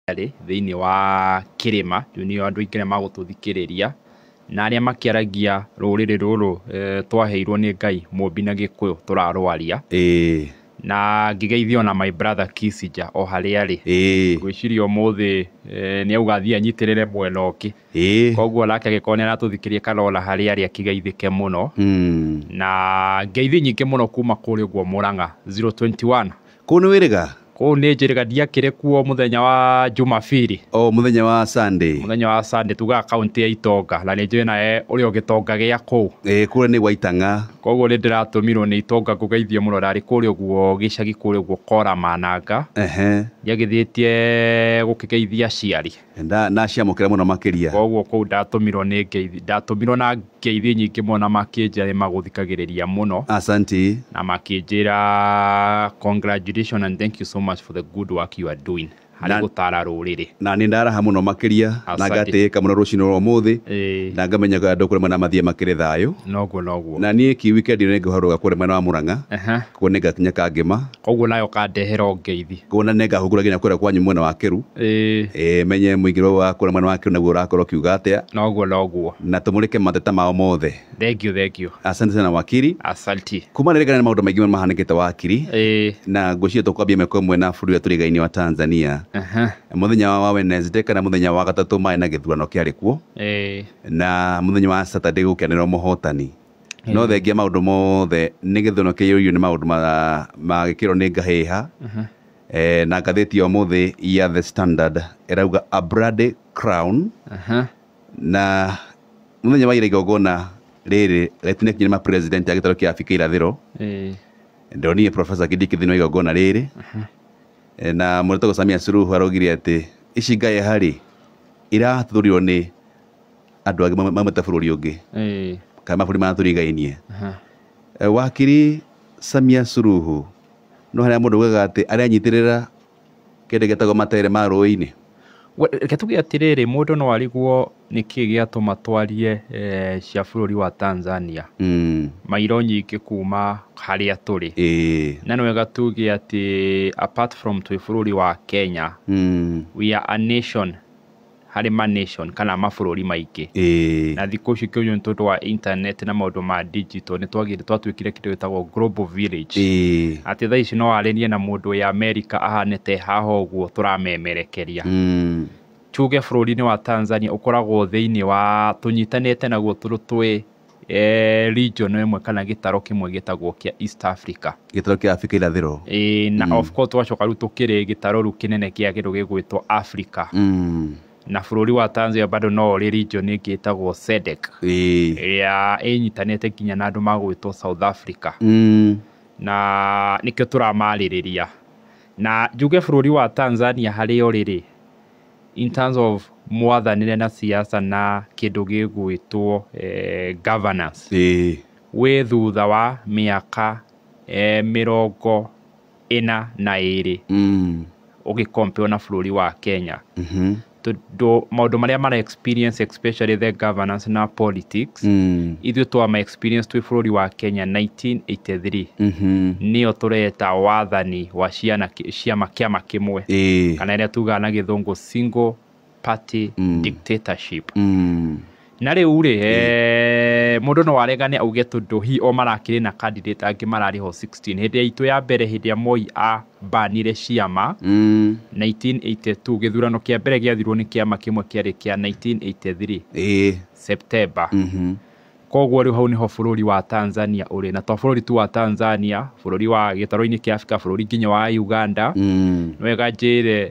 Rĩarĩ thĩinĩ wa kĩrĩma, rĩu nĩo andũ aingĩ arĩa magũtũthikĩrĩria, na arĩa makĩaragia rũrĩrĩ rũrũ twaheirwo nĩ Ngai mũmbi na gĩkũyũ tũrarwaria. Ĩĩ. Na ngĩgeithio na my brother Kissinger o harĩa arĩ. Ĩĩ. Ngwĩciria ũmũthĩ nĩ auga athiĩ anyitĩrĩre mwena ũngĩ. Ĩĩ. Koguo onake angĩkorwo nĩ aratũthikĩrĩria kana ona harĩa arĩ akĩgeithĩke mũno. Na ngeithi nyingĩ mũno kuma kũrĩa ũguo Mũrang'a 021. kũu nĩ wĩrĩga kũu nĩ njĩrĩga ndiakĩrĩ kuo mũthenya wa jumabiri o mũthenya wa sunday mũthenya wa sande tugaga kaunti ya itonga na nĩ njũĩ nawe ũrĩ o gĩtonga gĩa kũu ĩĩ kũrĩa nĩ gwaitang'a koguo nĩ ndĩratũmirwo nĩ itonga ngũgeithie mũno ndarĩ kũrĩa ũguo gĩcagi kũrĩa ũguo kora mananga ehe ndiagĩthĩtie gũkĩgeithia aciari Na ndaciamũkĩra mũno makĩria. Kwoguo kũu ndatũmirwo nĩ ngeithi, ndatũmirwo na ngeithi nyingĩ mũno na makĩnjĩra nĩ magũthikagĩrĩria mũno. Asanti. Na makĩnjĩra congratulations and thank you so much for the good work you are doing harĩ gũtaara rũrĩrĩ. Na niĩ ndaraha mũno makĩria na ngatĩĩka mũno rũcinĩ rwa ũmũthĩ na ngamenya andũ kũrĩa mwena wa Mathia makĩrĩ thayũ. Noguo noguo. Na niĩ ki weekend ĩno nĩ ngũharũrũka kũrĩa mwena wa Murang'a, kuo nĩ ngakinya Kangema. Koguo nawe ũkandehera ũngeithi. Koguo na nĩngahungura nginya kũrĩa kwanyu mwena wa Keru, Ĩ, ĩ, menye mũingĩro wa kũrĩa mwena wa Keru naguo ũrakorwo ũkiuga atĩa, noguo noguo. na tũmũrĩke mateta mao mothe. Thengiũ thengiũ. Asante sana wakiri. Asanti. Kuma rĩrĩ nginya nĩ maũndũ maingĩ mahanĩkĩte wakiri, Ĩ, na ngwĩciria tũkwambia ĩmwe kwa ĩmwe na bũrũri ũrĩa tũrigainie wa Tanzania. aha, Mũthenya wa wa Wednesday kana mũthenya wa gatatũ marĩ na gĩthurano kĩarĩ kuo, ĩ, na mũthenya wa Saturday gũkĩanĩrĩrwo mũhotani. no thengia maũndũ mothe nĩ gĩthũno kĩiyũririo nĩ maũndũ ma- ma gĩkĩro nĩ ngahĩha Eh, na ngathĩti ya ũmũthĩ ya the standard ĩrauga a bloody crown Aha. na mũthenya wa ira igongona rĩrĩ rĩtinakinya nĩ mapresident a gĩtarũ kĩa abika irathĩro Eh, ndonire profesa kĩndĩ kĩthĩinĩ wa igongona rĩrĩ Eh, na mũrĩtagwo samia suruhu araugire atĩ ici ngaĩ harĩ irathurirwo nĩ andå angä maumä bå rå ri å ngä Eh, kana mabå rä marä a tå rigainie aha. Eh, wakiri samia suruhu no harä a må ndå ugaga atä arä anyitä rä ra kä ndå gätagwo matere ma rå inä We- Reke tuge atĩrĩrĩ mũndũ no ariguo nĩ kĩĩ gĩatũma twarie eh, cia bũrũri wa Tanzania mairo nyingĩ kuma harĩa tũrĩ ä na nĩ wega tuge atĩ apart from twĩ bũrũri wa Kenya we are a nation harĩ ma nation kana mabũrũri maingĩ. Ĩĩ. Na thikũ ici kĩũnyũ nĩ tondũ wa internet na maũndũ ma digital nĩ twagĩte twatuĩkire kĩndũ gĩtagwo global village. Ĩĩ. Atĩ thaa ici no warĩrie na mũndũ wĩ America ahane ta e haha ũguo tũramemerekeria. Tuge bũrũri-inĩ wa Tanzania ũkoragwo thĩinĩ wa tũnyitanĩte naguo tũrĩ twĩ. region ĩmwe kana gĩtaro kĩmwe gĩtagwo kĩa East Africa. Gĩtaro kĩa Africa irathĩro. Ĩĩ na of course twacoka rĩu tũkĩrĩ gĩtaro rĩu kĩnene kĩa kĩndũ gĩgwĩtwo Africa. Na bũrũri wa Tanzania bado no ũrĩ region ĩngĩ ĩtagwo SADC. Ĩrĩa ĩnyitanĩte nginya na andũ magwĩtwo South Africa. Na nĩkĩo tũramarĩrĩria. Na njuge bũrũri wa Tanzania harĩa ũrĩ rĩ, in terms of mwathanĩre na siasa na kĩndũ gĩgwĩtwo eh, governance ĩĩ wĩ thutha wa mĩaka eh, mĩrongo ĩna na ĩrĩ mm. ũgĩkompeo na bũrũri wa kenya Mhm. tondũ maũndũ marĩa mara experience especially the governance na politics Mm. ithuĩ twa ma experience twĩ bũrũri wa Kenya 1983 Mhm. nĩyo tũreta wathani wa ciana ciama kĩama kĩmwe Ĩĩ. kana ĩrĩa tugaga na gĩthũngũ single party Mm. dictatorship Mm. na rĩu rĩ eh, mũndũ no aregane auge tondũ hi o marakĩrĩ na candidate angĩ mararĩ ho 16 hĩndĩ ya itũ ya mbere hĩndĩ ya moi a mbanire ciama 1982, gĩthurano kĩa mbere gĩathirwo nĩ kĩama kĩmwe kĩarĩ kĩa 1983, September. Koguo rĩu hau nĩho bũrũri wa Tanzania ũrĩ. Na to bũrũri tu wa Tanzania, bũrũri wa gĩtarũ-inĩ kĩa Afrika, bũrũri nginya wa Uganda. Nĩ wega njĩre...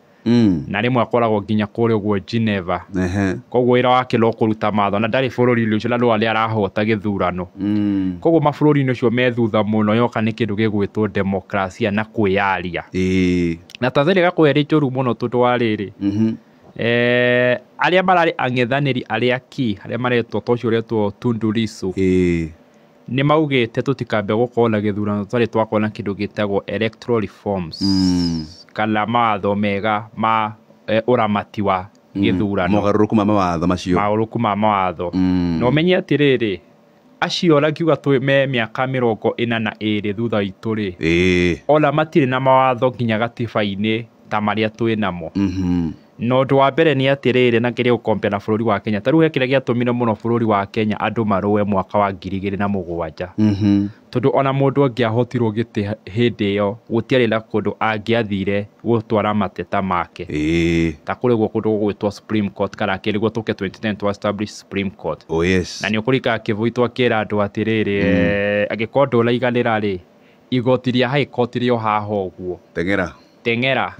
Mm. na rĩmwe akoragwo nginya kũrĩ ũguo Geneva Ehe. koguo wĩra wake no kũruta matho na ndarĩ bũrũri-inĩ ũcio na no arĩa arahota gĩthurano Mm. koguo mabũrũri-inĩ ũcio me thutha mũno yoka nĩ kĩndũ gĩgwĩtwo demokrasia na kwĩyaria Ĩĩ. na Tanzania gakorwo ĩrĩ njũru mũno tondũ wa rĩrĩ Mhm. eh, arĩa mararĩ ang'ethanĩri arĩa ki arĩa maretwo ta ũcio ũretwo Tundu Lissu Ĩĩ. Nĩmaugĩte tũtikambe gũkorwo na gĩthurano tũtarĩ twakorwo na kĩndũ gĩtagwo electoral reforms kana mawatho mega ma ũramati wa gĩthurano. Mogarũrũku ma mawatho macio. Maũrũku ma mawatho. Na ũmenye atĩrĩrĩ, acio ũrakiuga twĩ me mĩaka mĩrongo ĩna na ĩrĩ thutha witũ-rĩ, ona matirĩ na mawatho nginya gatiba-inĩ ta marĩa twĩ namo. Na ũndũ wa mbere nĩ atĩrĩrĩ, na kĩrĩa ũkompea na bũrũri wa Kenya, ta rĩu he kĩrĩa gĩatũmire mũno bũrũri wa Kenya andũ marũe mwaka wa ngiri igĩrĩ na mũgwanja. Tondũ ona mũndũ angĩahotirwo gĩtĩ hĩndĩ ĩyo, gũtiarĩ na kũndũ angĩathire gũtwara mateta make. Ta kũrĩ ũguo kũndũ gũgwĩtwo Supreme Court kana kĩndũ nĩguo tũke twenty ten twa establish Supreme Court. Na nĩ ũkũririkana Kĩboi twakĩra andũ atĩrĩrĩ, angĩkorwo ndũraiganĩra rĩ, igoti rĩa High Court rĩ o haha ũguo. teng'era,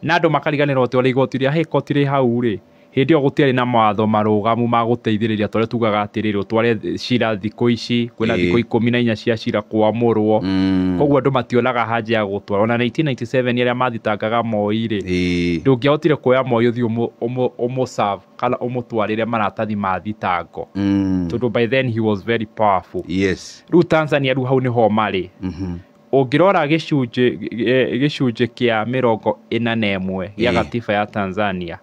na andũ makariganĩrwo atĩ o na igooti rĩa High Court rĩ hau rĩ, hĩndĩ ĩyo gũtiarĩ na mawatho marũgamu ma gũteithĩrĩria ta ũrĩa tugaga atĩrĩrĩ, ũtware cira thikũ ici, kwĩna thikũ ikũmi na inya cia cira kwamũrwo, kwoguo andũ mationaga haja ya gũtwara. O na 1997 arĩa mathitangaga Moi rĩ, ndũngĩahotire kuoya Moi ũthiĩ ũmũ serve kana ũmũtwarĩre maratathi ma thitango, tondũ by then he was very powerful. Rĩu Tanzania rĩu hau nĩho marĩ. Ũngĩrora gĩcunjĩ gĩcunjĩ kĩa mĩrongo ĩna na ĩmwe gĩa gatiba ya Tanzania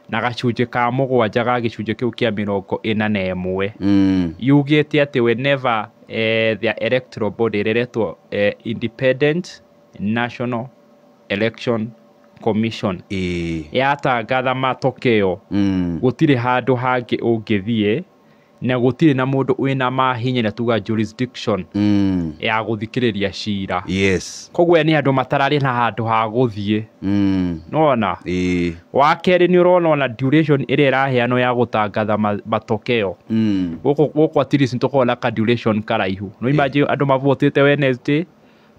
na gacunjĩ ka mũgwanja ga gĩcunjĩ kĩu kĩa mĩrongo ĩna na ĩmwe yugĩte atĩ whenever eh, the electoral body rĩretwo eh, independent national election commission ĩĩ yatangatha matokeo gũtirĩ handũ hangĩ ũngĩthiĩ na gũtirĩ na mũndũ wĩna mahinya na tuga jurisdiction mm. ya gũthikĩrĩria cira yes koguo nĩ andũ matararĩ na handũ ha gũthiĩ mm. nona e. wa kerĩ nĩ ũrona ona duration ĩrĩa ĩraheanwo ya gũtangatha ma- matokeo mm. gũkũ gũkũ at least nĩ tũkoragwo na ka duration karaihu no imagine andũ mavotĩte Wednesday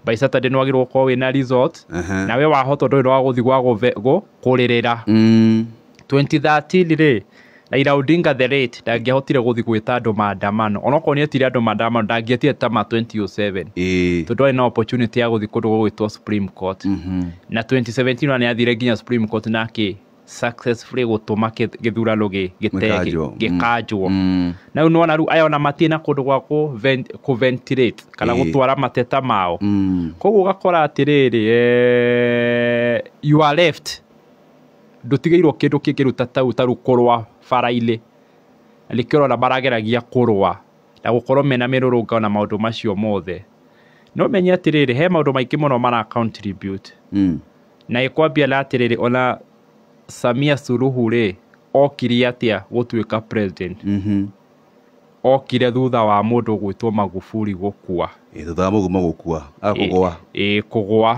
by saturday nä wagä rwo korwo wä na result Aha. na we wahota ndå rä wa gå thi gwa kå rä rä ra Mm. 2013 rä Raila Odinga the late ndangĩahotire gũthi gwĩta andå maandamano onokorwo nĩ etire andå maandamano ndangĩetire ta ma 2007 Ĩĩ. tondũ arĩ na opportunity ya gũthi kũndũ gũgwĩtwo Supreme Court Mhm. na 2017 ona nĩ athire nginya Supreme Court na akĩ successfully gũtũma kĩ- gĩthurano gĩ- gĩte- Gĩkanjwo. gĩkanjwo Mm. na rĩu nĩwona rĩu aya ona matirĩ na kũndũ gwa kũ ven- kũ ventilate kana Ĩĩ. gũtwara mateta mao Mm. koguo ũgakora atĩrĩrĩ eh, you are left ndũtigĩirwo kĩndũ kĩngĩruta tau taru kũrũa bara-inĩ na nĩkĩo ũrona marageragia kũrũa na gũkorwo mena mĩrũrũngano na maũndũ macio mothe no menye atĩrĩrĩ he maũndũ maingĩ mũno mara contribute Mm. Na ĩkwambia na atĩrĩrĩ, ona Samia Suluhu rĩ, okire atĩa gũtuĩka president? Okire thutha wa mũndũ ũgwĩtwo Magufuli gũkua. Ĩ, thutha wa mũgumo gũkua, a kũgũa. Ĩ, kũgũa.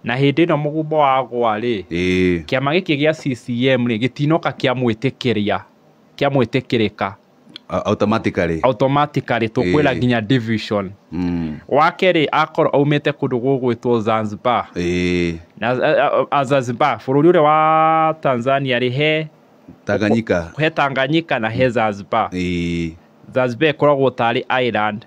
Na hĩndĩ ĩno mũgumo wagũa rĩ, Ĩ, kĩama gĩkĩ gĩa CCM rĩ, gĩtinoka kĩamwĩtĩkĩria, kĩamwĩtĩkĩrĩka. A- automatically automatically tũkwĩra Eh. nginya division mm. wake rĩ akorwo aumĩte kũndũ gũgwĩtwo zanzibar eh, na a- a- a- zanzibar bũrũri ũrĩa wa tanzania rĩ he tanganyika he tanganyika na he zanzibar eh, zanzibar ĩkoragwo tarĩ island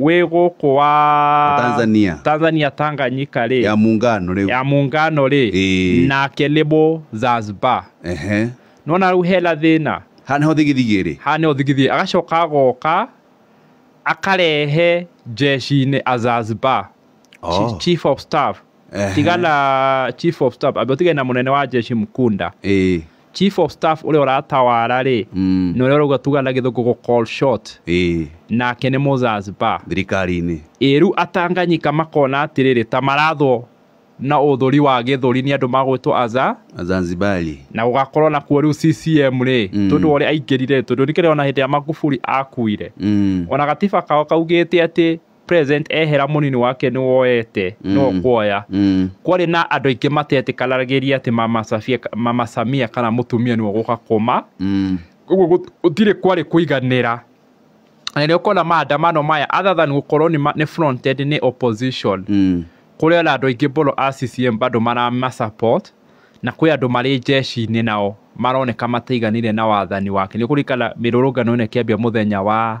wĩ gũkũ wa Tanzania. Tanzania Tanganyika rĩ ya muungano rĩu ya muungano rĩ Ĩĩ. nake nĩ mũ Zanzibar ehe nona rĩu hena thĩna haha nĩho thigithigi ĩrĩ haha nĩho thigithigi agacoka agoka akarehe jeshi-inĩ a Zanzibar Chi- Oh. chief of staff Ehe. tiga na chief of staff ambe utige na munene wa jeshi mkunda Ĩĩ. chief of staff uria uratawara ri Mm. ni uria urauga tuga na githungu gu call short Ĩĩ. nake ni muzazba thirikari-inĩ iru atanganyika makona atiriri ta marathwo na uthuri wa githuri ni andu magwitwo aza azanzibari na gugakorwo na kuo riu CCM ri Mm. tondu uria aingirire tondu nikire ona hindi ya Magufuli akuire Mm. ona gatiba kao kaugite ati present ehera mũnini wake nĩ woete no Mm. kuoya Mm. kwarĩ na andũ aingĩ matetĩkanagĩria atĩ mama Safia- mama samia kana mũtumia nĩwe gũka kũma Mm. ũguo gũ- gũtirĩ kwarĩ kũiganĩra na nĩ ũkona maandamano maya other than gũkorwo nĩ ma- nĩ fronted nĩ opposition Mm. kũrĩ ona andũ aingĩ mũno a CCM bado marama support na kwĩ andũ marĩ jeshi-inĩ nao maroneka mataiganire na wathani wake nĩ kũrikana mĩrũrũngano ĩno ĩkĩambia mũthenya wa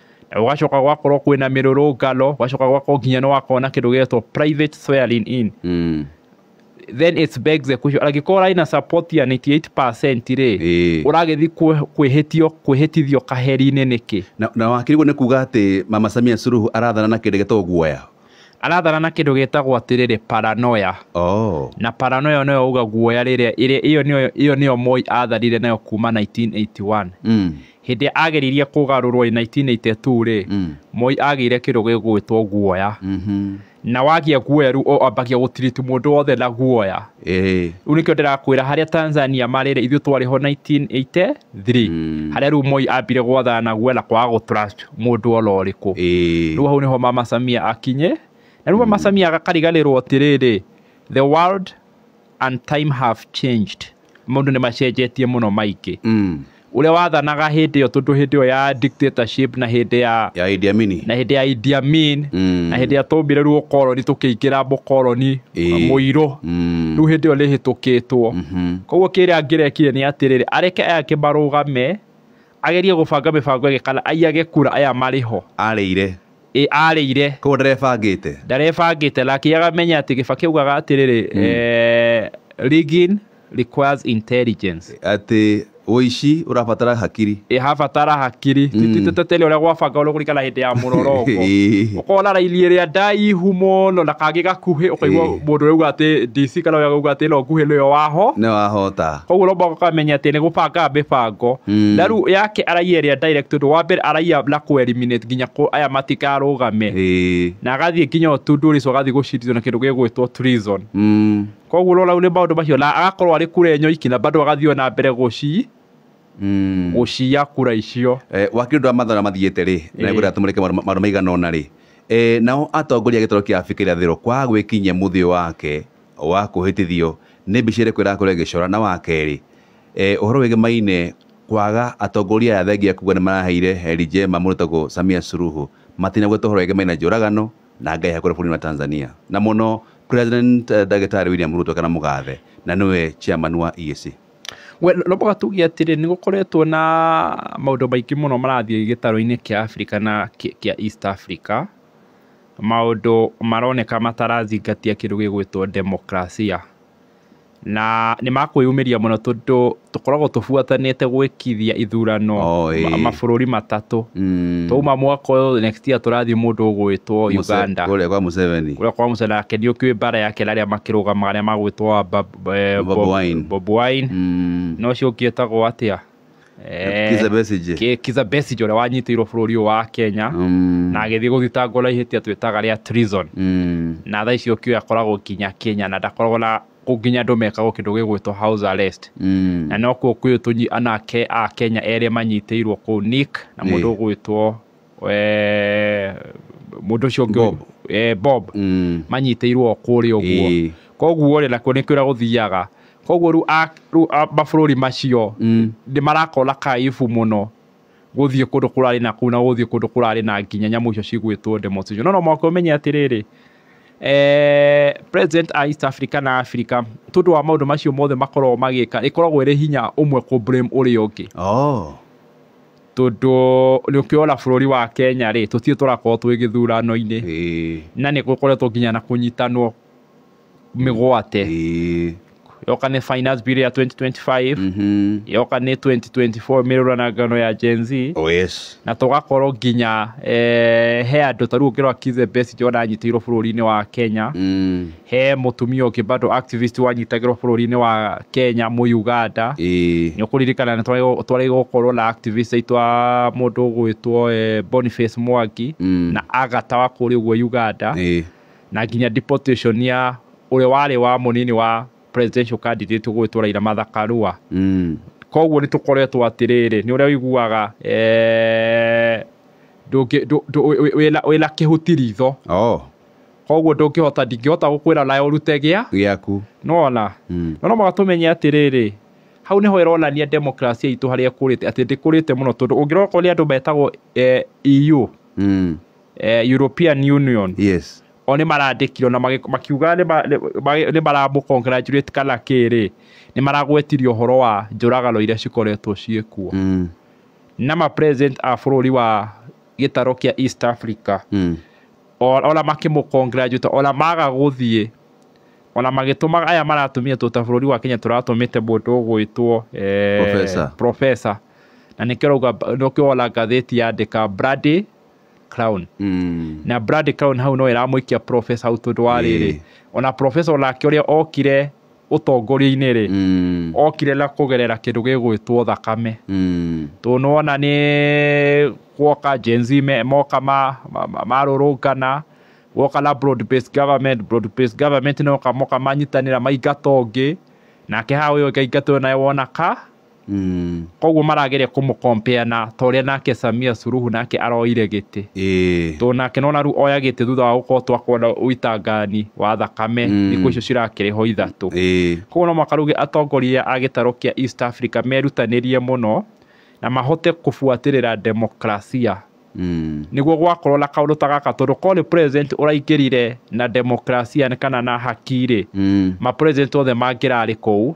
na gũgacoka gũgakorwo kwĩna mĩrũrũngano gũgacoka gũgakorwo nginya nĩ wakorwo na kĩndũ gĩgetwo private swearing in Mm. then it's begs the question angĩkorwo ũrarĩ na support ya 98% rĩ Ĩĩ. ũragĩthiĩ kwĩ- kwĩhĩtio kwĩhĩtithio kaheri-inĩ nĩkĩ na, na wakĩrigwo nĩ kuga atĩ mama samia suruhu arathana na kĩndũ gĩtagwo guoya arathana na kĩndũ gĩtagwo atĩrĩrĩ paranoya oh. na paranoya nĩyo uga guoya rĩrĩa ĩrĩa- ĩyo nĩyo- ĩyo nĩyo moi atharire nayo kuma 1981 mm. hĩndĩ ĩrĩa ageririe kũgarũrwo in 1982 rĩ mm. moi agĩire kĩndũ gĩgwĩtwo guoya mm -hmm. na wagĩa guoya rĩu ambagia gũtiriti mũndũ wothe na guoya rĩu nĩkĩo ndĩrakwĩra harĩa tanzania marĩ rĩ ithuĩ twarĩ ho 1983 mm. harĩa rĩu moi ambire gwathana na guoya na kwaga gũtrust mũndũ oro ũrĩkũ rĩu hau nĩho mama samia akinye na rĩu mama mm. samia agakariganĩrwo atĩrĩrĩ the world and time have changed maũndũ nĩ macenjetie mũno maingĩ Mm. ũrĩa wathanaga hĩndĩ ĩyo tondũ hĩndĩ ĩyo ya dictatorship na hĩndĩ ya ya Idi Amini na hĩndĩ ya Idi Amin Mm. na hĩndĩ ĩrĩa twaumĩrĩrwo ũkoroni tũkĩingĩra mũkoroni Ĩĩ. mũirũ Mm. rĩu hĩndĩ ĩyo rĩhĩtũkĩtwo Mhm. koguo kĩrĩa angĩrekire nĩ atĩrĩrĩ areke ake marũgame Agerie gũbanga mĩbango ĩngĩ kana aiyage kura aya marĩ ho. Arĩire. Ĩ arĩire. Koguo ndarebangĩte. Ndarebangĩte na akĩaga amenye atĩ Kibaki augaga atĩrĩrĩ eh, rigging requires intelligence. Atĩ ũici ũrabatara hakiri. Ĩ habatara hakiri. Tititeteteria ũrĩa gwabanga ũrĩa kũringana hĩndĩ ya mũroroko. Ũkona raini ĩrĩa ndaihu mũno na kangĩ gakuhĩ ũkaigua mũndũ ũrĩa auga atĩ DC kana ũrĩa auga atĩ ĩno nguhĩ nĩyo waho. Nĩyo wahota. koguo no mũhaka ũkamenya atĩ nĩ gũbangaga mĩbango Mm. na rĩu yake araia ĩrĩa direct tondũ wa mbere araia na kũ eliminate nginya kũ aya matikarũgame Eh. na agathiĩ nginya ũtundu rĩcu agathiĩ gũcindithio na kĩndũ gĩgwĩtwo treason Mm. koguo rora nĩ maũndũ macio na agakorwo arĩ kura enyo iki na bado agathiĩ ona mbere gũci Mm. gũciya kura icio Eh, wakiri ũndũ wa mathara mathiĩte rĩ na Ĩĩ. nĩngwenda tũmũrĩke maũndũ maũndũ maigana ũna rĩ Eh, nao atongoria a gĩtaro kĩa Afrika irathĩro kwaga gwĩkinyia mũthĩ wake wa kũhĩtithio nĩ mbica ĩrĩkũ ĩrakũrĩa gĩcora? Na wa kerĩ, ũhoro wĩgiĩ maine kwaga atongoria aya thengia kuga nĩ maraheire heri njema mũndũ ũtagwo Samia Suluhu matinagweta ũhoro wĩgiĩ maine njũragano na ngahĩha kũrĩa bũrũri-inĩ wa Tanzania na mũno President Ndagĩtarĩ William Ruto kana mũgathe na nĩwe chairman wa EAC. We no mũhaka tuge atĩrĩ nĩ gũkoretwo na maũndũ maingĩ mũno marathiĩ gĩtarũ-inĩ kĩa Africa na kĩa East Africa. maũndũ maroneka matarazingatia kĩndũ gĩgwĩtwo demokrasia. Na nĩ makwĩyumĩria mũno tondũ tũkoragwo tũbuatanĩte gwĩkithia ithurano mabũrũri matatũ. Twauma mwaka ũyũ next year tũrathiĩ mũndũ ũgwĩtwo Uganda. Kũrĩa kwa Museveni. Kũrĩa kwa Museveni nake nĩ ũkĩũĩ mbara yake na arĩa makĩrũgamaga arĩa magwĩtwo Bobi Wine. Na ũcio ũngĩ etagwo atĩa? Eh, Kiza Besigye. Ki- Kiza Besigye ũrĩa wanyitĩirwo bũrũri ũyũ wa Kenya Mm, na agĩthiĩ gũthitangwo na ihĩtia twĩtaga rĩa treason mm, na thaa icio kĩoya akoragwo nginya Kenya na ndakoragwo na nginya andũ mekagwo kĩndũ gĩgwĩtwo house arrest mm. na no kuo kwĩ tũnyi anake a Kenya erĩ manyitĩirwo kũu Nick na mũndũ Ĩĩ. ũgwĩtwo eh, mũndũ ũcio ũngĩ Bob. eh, bob Mm. manyitĩirwo o kũrĩa ũguo Ĩĩ. koguo rĩ nakuo nĩkĩo ũrĩa gũthiaga koguo rĩu a- rĩu a- mabũrũri macio Mm. nĩ marakona kaibu mũno gũthiĩ kũndũ kũrarĩ na kũu na gũthiĩ kũndũ kũrarĩ na nginya nyamũ icio cigwĩtwo ndemo cicio no no mwaka ũmenye atĩrĩrĩ eh, president a east africa na africa tondũ wa maũndũ macio mothe makoragwo magĩka ĩkoragwo ĩrĩ hinya ũmwe kũ blame ũrĩa ũngĩ Oh. tondũ nĩ ũkĩona bũrũri wa Kenya rĩ, tũtirĩ tũrakorwo twĩ gĩthurano-inĩ, Ĩĩ. na nĩ gũkoretwo nginya na kũnyitanwo mĩgwate, Ĩĩ. yoka nĩ finance bill ya 2025, Mhm. yoka nĩ 2024 mĩrũranangano ya Gen Z, Oh yes. na tũgakorwo nginya eh, he andũ ta rĩu ũngĩrora Kizza Besigye ona anyitĩirwo bũrũri-inĩ wa Kenya, Mm. He mũtumia ũngĩ bado activist wanyitagĩrwo bũrũri-inĩ wa Kenya Mũyuganda. Ĩĩ. Nĩ ũkũririkana nĩ twarĩ- twarĩ gũkorwo na activist aitũ a mũndũ ũgwĩtwo eh, Boniface Mwangi Mm. na Agatha wa kũrĩa ũguo Uganda Ĩĩ. na nginya deportation ya ũrĩa warĩ wa mũnini wa presidential candidate ũgwĩtwo Raila Martha Karua. Mm. Koguo nĩ tũkoretwo atĩrĩrĩ, nĩ ũrĩa ũiguaga eh, ndũngĩ- ndũ- ndũ- wĩ- wĩ- wĩna- wĩna kĩhuti ritho Oh. Koguo ndũngĩhota, ndingĩhota gũkwĩra nawe ũrute gĩa. Gĩaku. Nĩwona? Mm. No no mũhaka tũmenye atĩrĩrĩ, hau nĩho ĩronania democracy itũ harĩa ĩkũrĩte, atĩ ndĩkũrĩte mũno tondũ ũngĩrora okorwo nĩ andũ metagwo eh, EU, Mm. eh, European Union, Yes. o nĩ marandĩkirwo na magĩ- makiuga nĩ ma- nĩ- ma- nĩ maramũ congratulate kana kĩrĩ nĩ maragwetirio ũhoro wa njũragano iria cikoretwo ciĩkuo Mm. na ma president a bũrũri wa gĩtaro kĩa East Africa Mm. Ona makĩmũcongratulate, ona maga gũthiĩ, ona magĩtũmaga aya maratũmĩtwo ta bũrũri wa Kenya tũratũmĩte mũndũ ũgwĩtwo Professor. Professor. Na nĩkĩo ũrauga, nĩkĩo wona ngathĩti yandĩka Bloody Crown. Na Bloody Crown hau no ĩramũikia Professor hau tondũ wa rĩrĩ, ona Professor onake ũrĩa okire, ũtongoria-inĩ-rĩ, Mm. okire na kũgerera kĩndũ gĩgwĩtwo thakame Mm. tũnona nĩ gwoka Gen Z me- moka ma- ma- ma- marũrũngana gwoka na broad based government broad based government noka moka manyitanĩra maingatongĩ nake hau ũyũ ũngĩ aingatwo naye wona ka Mm. Koguo marageria kũmũ compare na ta ũrĩa nake Samia Suluhu nake aroire gĩtĩ. Ĩĩ. Tondũ nake nĩwona rĩu oya gĩtĩ thutha wa gũkorwo twakwo na ũitangani wa thakame Mm. thikũ icio cirakĩrĩ ho ithatũ. Ĩĩ. Koguo no mũhaka rĩu atongoria a gĩtarũ kĩa East Africa merutanĩrie mũno na mahote kũbuatĩrĩra demokrasia Mm. nĩguo gwakorwo na kaũndũ ta gaka tondũ korwo nĩ president ũraingĩrire na demokrasia kana na haki-rĩ Mm. ma president othe mangĩrarĩ kũu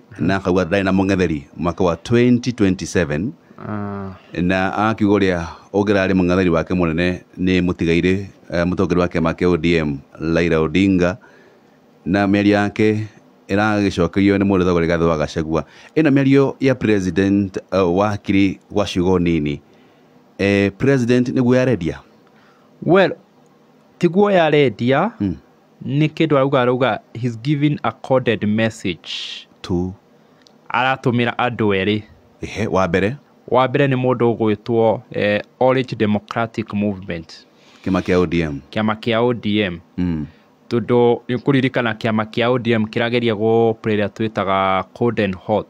na akauga ndarĩ na mũng'etheri mwaka wa 2027 Ah, na akiuga ũrĩa ũngĩrarĩ mũng'etheri wake mũnene nĩ mũtigairĩ eh, mũtongoria wa kĩama kĩa ODM Raila Odinga na mĩario yake ĩragĩcokerio nĩ mũndũ thogore gathe wa Gachagua ĩno mĩario ya president eh, wa kiri gwa ciugo nini eh, president nĩguo yarendia well tiguo yarendia Mm. Nĩ kĩndũ arauga arauga he's giving a coded message to. Aratũmĩra andũ erĩ. Ehe, wa mbere. Wa mbere nĩ mũndũ ũgwĩtwo Orange Democratic Movement. Kĩama kĩa ODM. Kĩama kĩa ODM. Tondũ nĩ ũkũririkana kĩama kĩa ODM kĩrageria gũ play ĩrĩa twĩtaga cold and hot.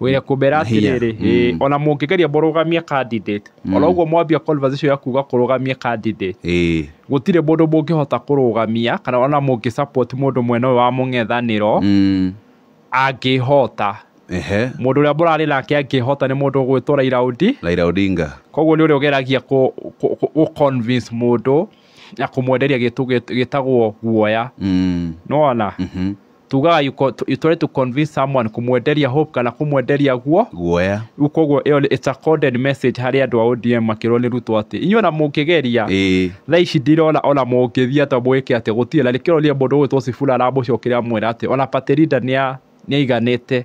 wĩre kũmera Hinya. atĩrĩrĩ ĩĩ, Mm. ona mũngĩgeria mũrũgamie candidate ona ũguo mwambia conversation ya kuga kũrũgamia candidate ĩĩ gũtirĩ mũndũ mũngĩhota kũrũgamia kana ona mũngĩ support mũndũ mwena ũyũ wa mũng'ethanĩro Mm. angĩhota ehe mũndũ ũrĩa mũrarĩ nake angĩhota nĩ mũndũ ũgwĩtwo Raila Odinga Raila Odinga koguo nĩ ũrĩa ũgeragia kũ- kũ- kũ- gũ convince mũndũ na kũmwenderia gĩtũ gĩt- gĩtagwo guoya Mm. nona Mhm. tugaga you, co- to- you try to convince someone kumwenderia hope kana kumwenderia guo guoya rĩu koguo ĩyo nĩ- it's a coded message harĩ andũ a odm makĩrwo nĩ ruto atĩ inyuĩ ona mũngĩgeria ĩĩ thaa ici ndirona ona mũngĩthiĩ atĩ mũgĩke atĩ gũtirĩ na nĩkĩo ũrĩa mũndũ ũgwĩtwo cibura aramũcokeria amwĩra atĩ ona paterida nĩ aiganĩte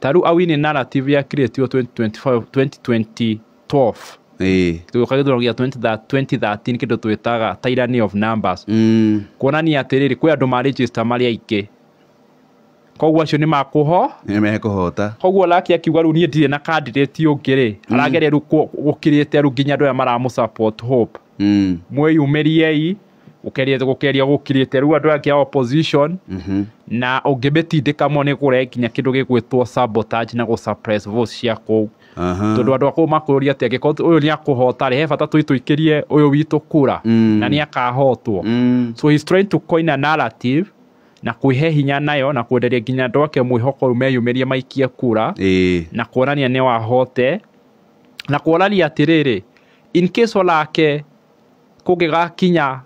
Tarĩu awini narrative ya create yo 2025 2012 ĩĩ tũgĩũka gĩthurano gĩa 20 2013 kĩndũ twĩtaga tyranny of numbers Mm, kuonania atĩrĩrĩ kwĩ andũ ma register marĩ aingĩ koguo acio nĩ makũho nĩ mekũhota koguo laki akiuga rĩu niĩ ndirĩ na candidate ũngĩ rĩ arageria rĩu kũ- gũkirĩte rĩu nginya andũ aya maramũ support hope Mm. mwĩyumĩriei gũkeria gũkeria gũkirĩte rĩu andũ ake a opposition na ũngĩmĩtindĩka mo nĩ kũrehe nginya kĩndũ gĩgwĩtwo sabotage na gũ suppress votes cia kũu Aha. tondũ andũ akũu makũrũria atĩ angĩkorwo ũyũ nĩ akũhota rĩ he bata tũi tũikĩrie ũyũ witũ kura Mm. na nĩ akahotwo Mm. so he's trying to coin a narrative na kwĩhe hinya nayo na kwenderia nginya andũ ake mwĩhoko rĩu meyumĩrie maikie kura Ĩĩ. na kuonania nĩ wahote na kuonania atĩrĩrĩ in case onake kũngĩgakinya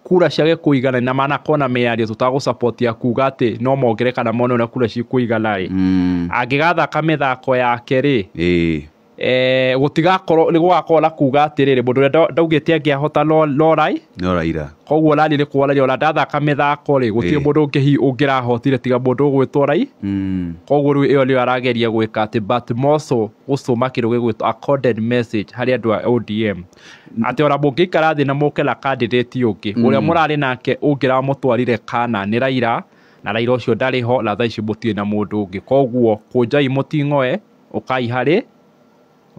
kura ciage kũigana na manakorwo na mĩario tũtagũ support ya kuga atĩ no mongere kana mone ũrĩa kura cikũigana rĩ Mm. angĩgathaka mĩthako yake rĩ Ĩĩ. eh, gũtigakorwo nĩ gũgakorwo na kuga atĩrĩrĩ mũndũ ũrĩa nda- ndaugĩte angĩahota no- no rai No Raila. koguo rari nĩ kuonania ona ndathaka mĩthako rĩ gũtirĩ Ĩĩ. mũndũ ũngĩ hi- ũngĩrahotire tiga mũndũ ũgwĩtwo rai Mm. koguo rĩu ĩyo nĩyo arageria gwĩka atĩ but moso gũcũma kĩndũ gĩgwĩtwo a coded message harĩ andũ a odm atĩ ona mũngĩikara thĩ na mũke na kandidati ũngĩ ũrĩa mũrarĩ nake ũngĩra mũtwarire kana nĩ Raila na Raila ũcio ndarĩ ho na thaa ici mũtirĩ na mũndũ ũngĩ koguo kũnjai mũting'oe ũkai harĩ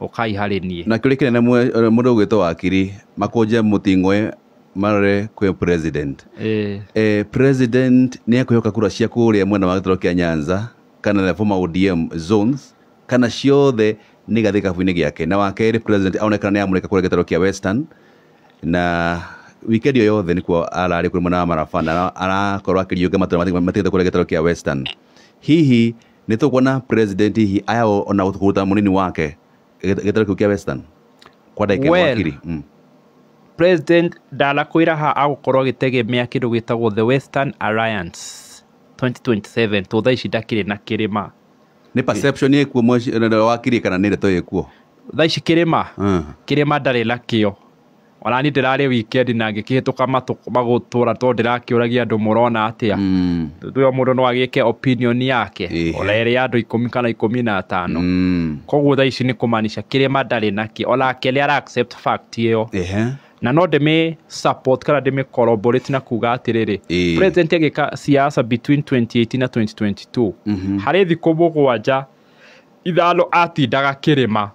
ũkai harĩ niĩ na kĩũria kĩnene mwe- eh, mũndũ ũgwĩtwo wakiri makũnje mũting'oe marore kwĩ president Ĩĩ. eh, president nĩ ekũhĩoka kura cia kũrĩa mwena wa gĩtaro kĩa nyanza kana the former odm zones kana ciothe nĩ gathiĩ gĩkabu-inĩ gĩake. Na wa kerĩ president aronekana nĩ amũrĩka kũrĩa gĩtarũ kĩa Western na wikendi ĩyo yothe nĩkuo ararĩ kũrĩ mwena wa Maraba na arakorwo akĩriũnga matũra matiganĩte kũrĩa gĩtarũ kĩa Western. Hihi nĩ tũkuona president hihi aya ona kũruta mũnini wake gĩtarũ kĩu kĩa Western kwa ndagĩka ĩmwe Well, akiri? Mm. president ndanakwĩra ha agũkorwo agĩtegemea kĩndũ gĩtagwo the western alliance 2027 tondũ thaa ici ndakĩrĩ na kĩrĩma nä perception ä kuo wakiri kana nä ndeto ä kuo thaa ici kĩrĩma Mm. kĩrĩma ndarĩ nakĩo ona niĩ ndĩrarĩ weekend na ngĩkĩhĩtũka matũ- magũtũra tondũ ndĩrakĩũragia andũ mũrona atĩa Mm. tuyo mũndũ no agĩke opinion yake Ĩhĩ. ona ĩrĩ ya andũ ikũmi kana ikũmi na atano Mm. koguo thaa ici nĩ kũmaanisha kĩrĩma ndarĩ nakĩ onake nĩ ara accept fact ĩyo Ehe. na no ndĩmĩ support kana ndĩmĩ collaborate na kuga atĩrĩrĩ Ĩĩ. president agĩka siasa between 2018 na 2022 Mhm. harĩ thikũ mũgwanja ithano atindaga kĩrĩma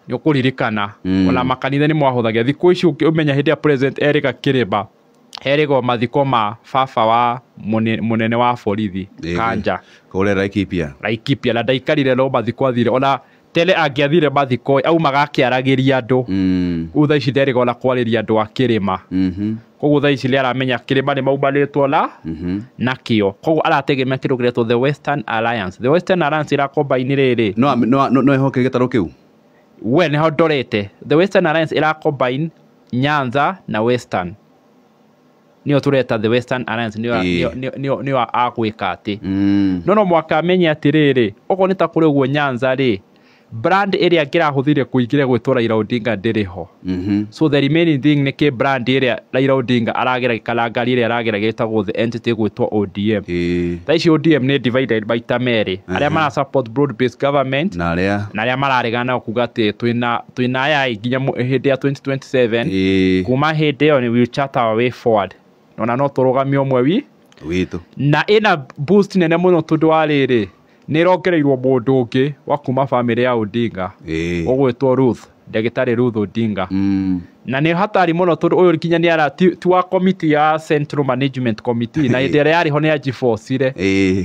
nĩ ũkũririkana Mm. ona makanitha nĩ mwahũthagia thikũ ici ũngĩ- ũmenya hĩndĩ ya president erĩga kĩrĩma herĩgwo mathiko ma baba wa mũne- mũnene wa borithi Ĩĩ. kanja kũrĩa Laikipia laikipia na ndaikarire no mathiko athire ona tene angĩathire mathiko aumaga akĩaragĩria andũ Mm, rĩu thaa ici nderĩga ona kwarĩria andũ a kĩrĩma mhm, koguo thaa ici nĩ aramenya kĩrĩma nĩ maumanĩtwo na mhm. nakĩo koguo arategemea kĩndũ kĩretwo the western alliance the western alliance ĩrakombaini rĩrĩ No am- no- no- no ehoke gĩtarũ kĩu we nĩho ndorete the western alliance ĩrakombaini Nyanza na Western nĩyo tũreta the Western Alliance nĩyo Ĩĩ. nĩyo- nĩyo- nĩyo- nĩyo agwĩka atĩ Mm. no no mwaka amenye atĩrĩrĩ okorwo nĩ ta kũrĩ ũguo Nyanza rĩ brand ĩrĩa ngĩrahũthĩire kũingĩra gwĩtwo Raila Odinga ndĩrĩ ho Mhm. so the remaining thing nĩ kĩ brand ĩrĩa Raila Odinga aragera kana ngari ĩrĩa aragera gĩtagwo the entity gwĩtwo ODM Ĩĩ. thaa ici ODM nĩ divided maita merĩ arĩa mara support broad based government Na arĩa na arĩa mararegana kuga atĩ twĩna twĩ na aya ĩ, nginya mũ- hĩndĩ ya 2027 Ĩĩ, kuma hĩndĩ ĩyo nĩ wheelchair tower way forward ona no tũrũgamio ũmwe wi witũ na ĩna boost nene mũno tondũ wa rĩrĩ nĩ ĩrongereirwo mũndũ ũngĩ wa kuma bamĩrĩ ya Odinga Ĩĩ. ũgwĩtwo Ruth ndagĩtarĩ Ruth Odinga Mm, na nĩ hatari mũno tondũ ũyũ nginya nĩ ara ti ti wa committee ya central management committee na hĩndĩ ĩrĩa yarĩ ho nĩ ya G4 cire ĩĩ.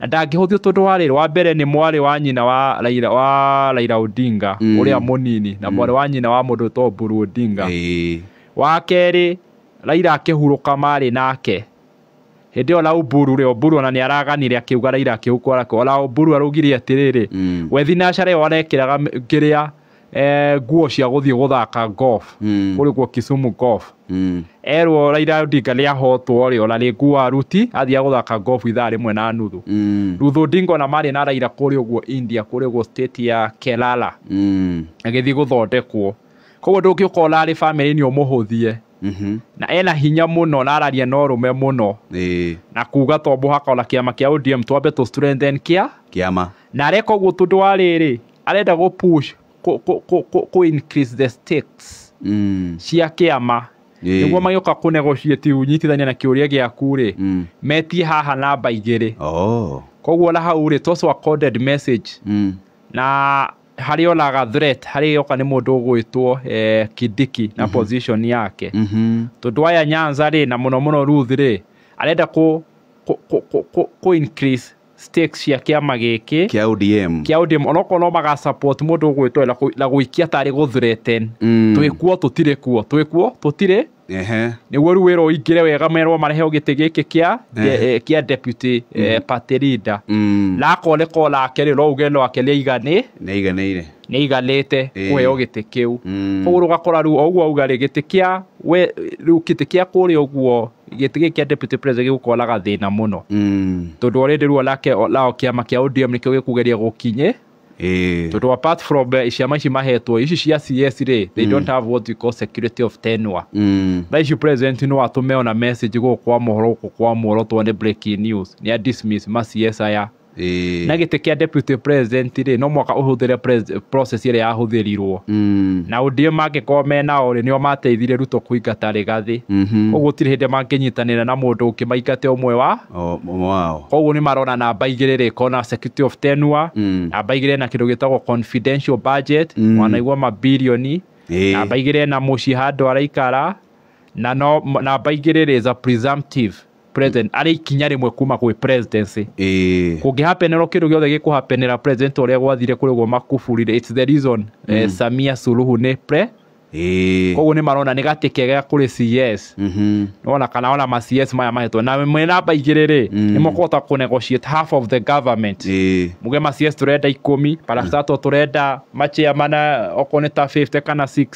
Na ndangĩhũthio tondũ wa rĩrĩ, wa mbere nĩ mwarĩ wa nyina wa Raila, wa Raila Odinga Mm. ũrĩa mũnini na mwarĩ wa nyina wa mũndũ wĩtagwo Mburu Odinga. Ĩĩ. Wa kerĩ, Raila akĩhurũka marĩ nake. Hĩndĩ ĩyo Lau Mburu rĩ, Oburu ona nĩ araganire akĩuga Raila akĩhukwo arake. Ona Oburu araugire atĩrĩrĩ, Mm. we thinacara ĩyo arekĩraga m- kĩrĩa eh, nguo cia gũthiĩ gũthaka golf Mm. kũrĩ kuo Kisumu golf Mm. erwo Raila Odinga nĩ ahotwo rĩ ona rĩngĩ wa ruti athiaga gũthaka golf ithaa rĩmwe na nuthu Mm. Ruth Odinga ona marĩ na Raila kũrĩ ũguo India kũrĩ ũguo state ya Kerala Mm. agĩthiĩ gũthondekwo koguo ndũngĩ ũkona arĩ family-inĩ ũmũhũthie Mhm. na ena hinya mũno na araria na ũrũme mũno Ĩĩ. na kuga to mũhaka ona kĩama kĩa ODM twambe tũ strengthen kĩa Kĩama. na areka ũguo tondũ wa rĩrĩ arenda gũ push kũ, kũ, kũ, kũ, kũ increase the stakes Mm. cia kĩama Ĩĩ. nĩguo magĩũka kũ negotiate ũnyitithania na kĩũria gĩaku rĩ Mm. metie haha namba igĩrĩ Oh. koguo na hau rĩ toss a coded message Mm. na harĩ onaga threat harĩ yoka nĩ mũndũ ũgwĩtwo eh, kindiki na position yake Mhm. tondũ aya nyanza rĩ na mũno mũno ruth rĩ arenda kũ, kũ, kũ, kũ, kũ, kũ increase stakes cia kĩama gĩkĩ kĩa ODM kĩa ODM onokorwo no maga support mũndũ ũgwĩtwo na kũ- na gũikia tarĩ gũthureten Mm. twĩ kuo tũtirĩ kuo twĩ kuo tũtirĩ ehe nĩguo rĩu wĩra ũingĩre wega merwo marehe gĩtĩ gĩkĩ kĩa de- eh, kĩa deputy eh, party leader Mm. na akoneka o nake rĩ no uge no akeria igane nĩaiganĩire nĩ aiganĩte kũheo gĩtĩ kĩu. Koguo ũgakora rĩu o ũguo auga rĩ, gĩtĩ kĩa we, rĩu gĩtĩ kĩa kũrĩa ũguo, gĩtĩ gĩkĩ kĩa Deputy President gĩgũkorwo na gathĩna mũno. Tondũ already rĩu onake nao kĩama kĩa ODM nĩkĩo gĩkũgeria gũkinyĩ, tondũ apart from ciama ici mahetwo, ici cia CS rĩ, they don't have what we call security of tenure. Thaa ici President no atũme ona message gũkũ kwa Mohoro gũkũ kwa Muoroto one breaking news, nĩ a dismiss ma CS aya. Ĩĩ. na gĩtĩ kĩa deputy president rĩ no mwaka ũhũthĩre pres- process ĩrĩa yahũthĩrirwo Mm. na ũndĩe mangĩkorwo menao rĩ nĩo mateithire ruto kũingata rĩgathĩ Mhm. koguo gũtirĩ hĩndĩ mangĩnyitanĩra na mũndũ ũngĩ maingate ũmwe wa O- o- wao koguo nĩ marona namba igĩrĩ rĩ kona security of tenure Mm. namba igĩrĩ na kĩndũ gĩtagwo confidential budget Mm. wanaigua mabilioni Ĩĩ. namba igĩrĩ na mũciĩ handũ araikara na no namba igĩrĩ rĩ is a presumptive president arĩ ikinya rĩmwe kuma gwĩ presidency ĩĩ kũngĩhapenerwo kĩndũ gĩothe gĩkũhapenera president ũrĩa gwathire kũrĩ guo makuburire it's the reason eh, samia suluhu nĩ pre ĩĩ koguo nĩ marona nĩ gatĩ kega kũrĩ cs Mhm. ona kana ona ma cs maya mahetwo na mwĩ namba igĩrĩ rĩ nĩ mũkũhota kũ negotiate half of the government ĩĩ muge ma cs tũrenda ikũmi parastato tũrenda maciamana okorwo nĩ ta 50 kana 60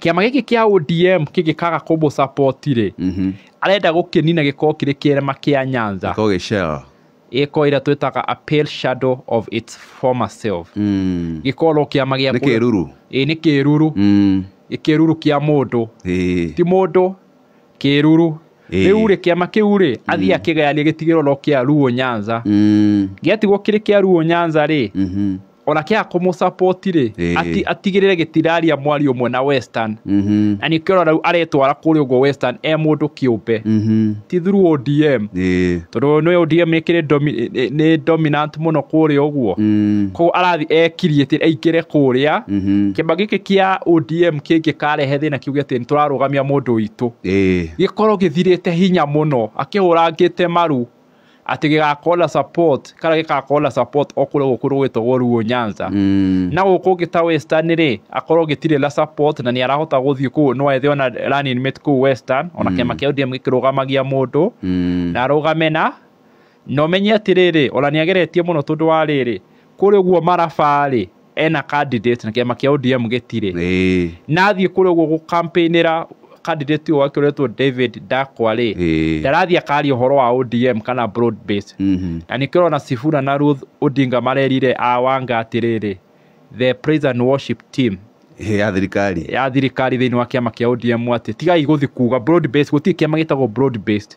kĩama gĩkĩ kĩa ODM kĩngĩkaga kũmũ support rĩ Mhm. arenda gũkĩnina gĩkorwo kĩrĩ kĩrema kĩa Nyanza Ko gĩcera. gĩkorwo ĩrĩa twĩtaga a pale shadow of its former self Mm. gĩkorwo no kĩama gĩa Nĩ kũrĩa- kĩruru. Ĩĩ, nĩ kĩruru Mm. Nĩ kĩruru kĩa mũndũ Ĩĩ. ti mũndũ kĩruru Ĩĩ. rĩu rĩ kĩama kĩu rĩ athiĩ akĩgayanie gĩtigĩrwo no kĩa ruo nyanza Mm. gĩatigwo kĩrĩ kĩa ruo nyanza rĩ Mhm. ona kĩaga kũmũcapoti rĩ Ĩĩ. ati- atigĩrĩre gĩtiraria mwario ũmwe na western Mhm. na nĩkĩo ũrona rĩu aretwara kũrĩa ũguo western e mũndũ kĩũmbe Mhm. ti through odm Ĩĩ. tondũ nĩ odm ĩkĩrĩ domi- nĩ- nĩ dominant mũno kũrĩa ũguo Mm. koguo arathi ekirie atĩ aingĩre kũrĩa Mhm. kĩmba gĩkĩ kĩa odm kĩngĩkarehe thĩna kiuge atĩ nĩ tũrarũgamia mũndũ witũ Ĩĩ. gĩkorwo gĩthirĩte hinya mũno akĩhũrangĩte maru atĩ gĩgakorwo na support kana gĩgakorwo na support o kũrĩa gũkũ rũgĩtagwo ruo nyanza Mm. na gũkũ ũngĩ ta western rĩ akorwo gĩtirĩ na support na nĩ arahota gũthiĩ kũu no ethe ona running mate kũu western ona kĩama kĩa ODM gĩkĩrũgamagia mũndũ Mm. na arũgame na na ũmenye atĩrĩrĩ ona nĩ ageretie mũno tondũ wa rĩrĩ kũrĩ ũguo marabarĩ ena candidate na kĩama kĩa ODM gĩtirĩ Ĩĩ, na athiĩ kũrĩa ũguo gũkampĩinĩra candidate ũyũ wake ũretwo David Ndakwa rĩ Ĩĩ. ndarathiĩ akaria ũhoro wa ODM kana broad base mhm. na nĩkĩo ũrona Sifuna na Ruth Odinga marerire awanga atĩrĩrĩ the praise and worship team Ĩĩ, ya thirikari ya thirikari thĩinĩ wa kĩama kĩa ODM atĩ tigai gũthiĩ kuga broad based gũtirĩ kĩama gĩtagwo broad based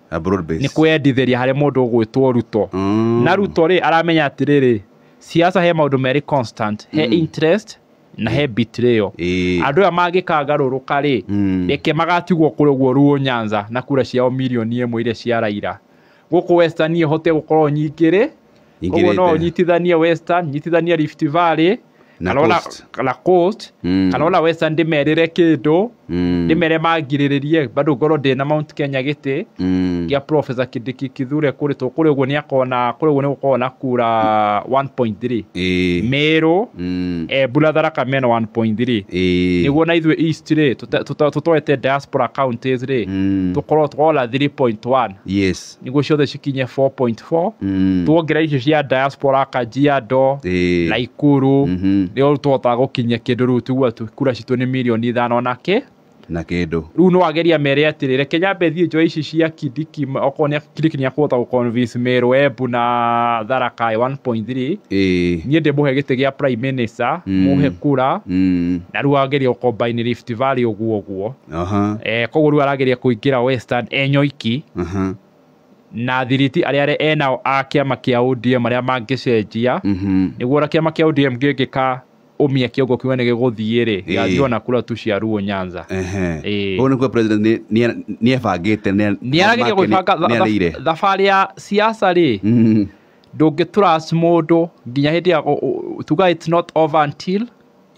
A broad nĩ base. kwĩyendithĩria harĩ mũndũ ũgwĩtwo ruto Mm. na ruto rĩ aramenya atĩrĩrĩ siasa he maũndũ merĩ constant he interest na he betrayal Ĩĩ. andũ aya mangĩkangarũrũka rĩ Mm. reke magatigwo kũrĩ ũguo ruo nyanza na kura ciao mirioni ĩmwe iria cia raira gũkũ western hote gũkorwo nyingĩ rĩ koguo no ingĩrĩte ũnyitithanie western nyitithanie rift valley Na kana ona- coast. na coast Mm. kana ona western ndĩmerĩre kĩndũ Mm, ndĩmere mangirĩrĩrie bado ngorwo ndĩna mount kenya gĩtĩ mm. gĩa profesa kĩndĩki kithure kũrĩ tũ kũrĩ ũguo nĩ akona kũrĩ ũguo nĩ gũkoragwo na kura 1.3 Ĩĩ, mĩrũ mm, eh, mbura tharaka mena 1.3 ĩĩ, nĩguo na ithuĩ east rĩ tũte- tũte- tũtoete diaspora counties rĩ mm, tũkorwo twona 3.1 yes niguo ciothe cikinye 4.4 Mm. tuongerera icio cia diaspora kajiado Ĩĩ. na ikuru Mhm. nĩo tũhotaga gũkinyia kĩndũ rĩu tiguo tu- kura citũ nĩ mirioni ithano na kĩ na kĩndũ rĩu no ageria mere atĩrĩ reke nyambe thiĩ njoe ici cia kidiki ma- okorwo nĩ kidiki nĩ akũhota gũconvince mĩrũ embu na tharaka ĩ 1.3 Ĩĩ. niĩ ndĩmũhe gĩtĩ gĩa prime minister Mm. mũhe kura Mm. na rĩu ageria gũkombaini rift valley ũguo ũguo Aha. eh, koguo rĩu arageria kũingĩra western enyoiki Aha. na thiriti arĩa arĩa enao a kĩama kĩa odm arĩa mangĩcenjia Mhm. nĩguo ona kĩama kĩa odm gĩngĩka ũmia kĩongo kiuga nĩ gĩgũthiĩ rĩ Ĩĩ. gĩgathiĩ ona kura tu cia ruo nyanza Ehe. Ĩĩ. Ũguo nĩ kuga president nĩ- nĩ- nĩ ebangĩte nĩ- nĩ arageria make nĩ- gwĩbanga tha- nĩ arĩire. tha- thabarĩ ya siasa rĩ Mhm. ndũngĩtũras mũndũ nginya hĩndĩ ya tuga it's not over until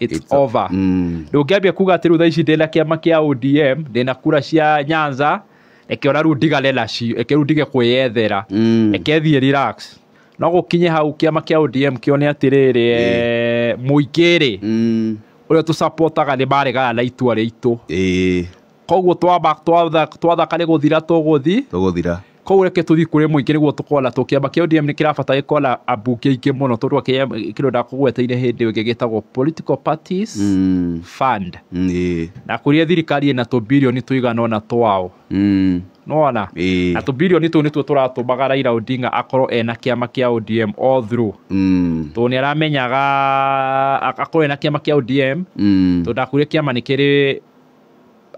it's, It's o- over Mm. ndũngĩambia kuga atĩ rĩu thaa ici ndĩna kĩama kĩa odm ndĩna kura cia nyanza reke ona rĩu ndigane nacio reke rĩu ndige kwĩyethera Mm. reke thiĩ relax no gũkinye hau kĩama kĩa odm kĩone atĩrĩrĩ eh, mũingĩ rĩ Mm. ũrĩa tũsapotaga nĩ maregana na itua rĩitũ Ĩĩ, koguo twamba- twatha- twathaka nĩ gũthira tũgũthi tũgũthira Koguo reke tũthiĩ kũrĩ mũingĩ nĩguo tũkona tũ kĩama kĩa ODM nĩ kĩrabata gĩkona ambunge aingĩ mũno tondũ kĩama kĩndũ ndakũgweteire hĩndĩ ĩyo gĩgĩtagwo political parties Mm. fund Mm, ĩĩ. na kũrĩa thirikari ĩna tũbirioni tũigana ũna twao Mm. nona Ĩĩ. na tũbirioni tũu nĩtuo tũratũmaga Raila Odinga akorwo ena kĩama kĩa ODM all through Mm. tondũ nĩ aramenyaga ak- akorwo ena kĩama kĩa ODM Mm. tondũ ndakwire kĩama nĩ kĩrĩ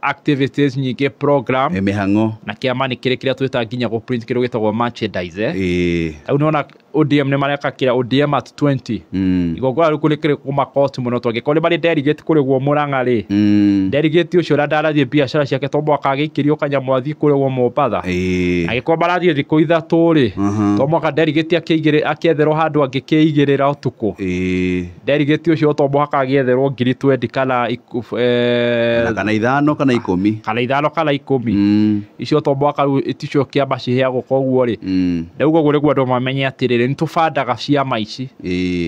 activities nyingĩ program eh, mĩhang'o na kĩama nĩ kĩrĩ kĩrĩa twĩta nginya gũ print kĩndũ gĩtagwo merchandise eh. eh. rĩu nĩ wona ODM nĩ mareka kĩra ODM at 20 mm. igongora rĩu nĩ kĩrĩ kũmakoti mũno tondũ angĩkorwo nĩ marĩ delegate kũrĩgwo mũrang'a rĩ mm. delegate ũcio ũrĩa ndarathiĩ biacara ciake to mwaka agĩikĩrio kanyamũ athiĩ kũrĩgwo mombatha agĩkorwo marathiĩ thikũ ithatũ rĩ to mwaka delegate akĩetherwo handũ angĩkĩigĩrĩra ũtukũ Nderigĩti ũcio to mũhaka agĩetherwo ngiri twendi kana eh, kana ithano kana ikũmi kana ithano kana ikũmi mm. icio to mũhaka rĩu ticio kĩama ciheagwo koguo rĩ mm. rĩu koguo nĩguo andũ mamenye atĩrĩrĩ nĩ tũbandaga ciama ici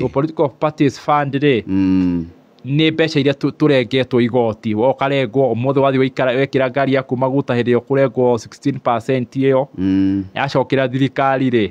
to political parties fund rĩ mm. nĩ mbeca iria tũrengetwo igoti ũkarengwo ũmũthĩ wathiĩ wekĩra ngari yaku maguta hĩndĩ ĩyo kũrengwo 16 ĩyo yacokera thirikari rĩ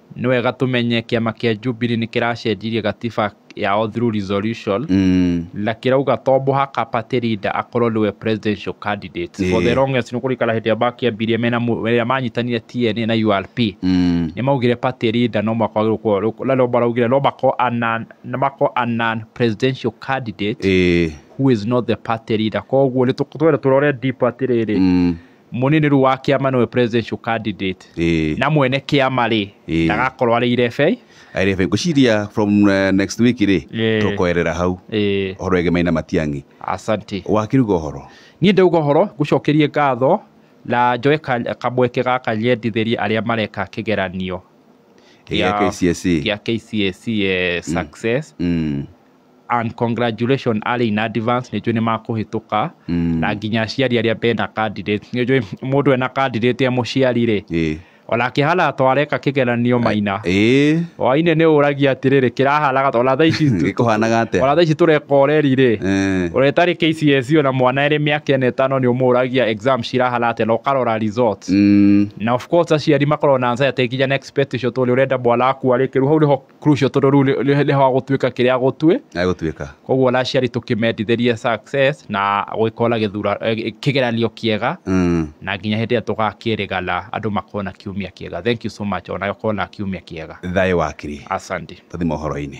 Nĩ wega tũmenye kĩama kĩa Jubilee nĩ kĩracenjirie gatiba yao through resolution na kĩrauga to mũhaka party leader akorwo nĩwe presidential candidate for the longest nĩ kũrĩkana hĩndĩ ĩrĩa makĩambirie mena rĩrĩa manyitanire TNA na URP nĩ maugire party leader no mũhaka wagĩrĩirwo gũkorwo rĩu na nĩo maraugire no makorwo a non no makorwo a non presidential candidate who is not the party leader koguo nĩ twende tũrore deep atĩrĩrĩ Mũnini rĩu wa kĩama nĩwe presidential candidate Ĩĩ. na mwene kĩama rĩ Ĩĩ. ndagakorwo arĩ irebei Arebe ngũciria from uh, next week rĩ Ĩĩ. tũkoerera hau Ĩĩ. horo ege maina matiang'i asante wakiruga horo niĩ ndauga ũhoro ngũcokerie ngatho na njoe ka- kamweke gaka nyendithĩrie arĩa mareka kĩgeranio Gĩa KCSE. gĩa KCSE eh, success mm. and congratulations arĩ in advance nĩ njũĩ nĩ makũhĩtũka Mm. na nginya aciari arĩa mena candidate nĩ njũĩ mũndũ ena candidate ya mũciari rĩ Ĩĩ. ona kĩhara to areka kĩgeranio maina Ĩĩ. waine nĩ ũragia atĩrĩrĩ kĩraharaga ta- ona thaa ici tu- Gĩkũhanaga atĩa? ona thaa ici tũreka ũreri rĩ Eh. ũrĩa tarĩ KCSE ona mwana ĩrĩ mĩaka ĩna ĩtano nĩ ũmũragia exam cirahana atĩa na ũkarora results Mm. na of course aciari makoragwo na anxiety nginya na expectation tondũ ũrenda mwana waku arĩkĩru hau nĩho crucial tondũ rĩu nĩ- nĩ- nĩho agũtuĩka kĩrĩa agũtuĩ agũtuĩka koguo ona aciari tũkĩmendithĩrie success na gwĩkona gĩthura eh, kĩgeranio kĩega Mm. na nginya hĩndĩ ĩrĩa tũgakĩrĩga na andũ makona kiumia kĩega thank you so much ona ũkona kiumia kĩega thayũ wakiri asante tũthi mohoro-inĩ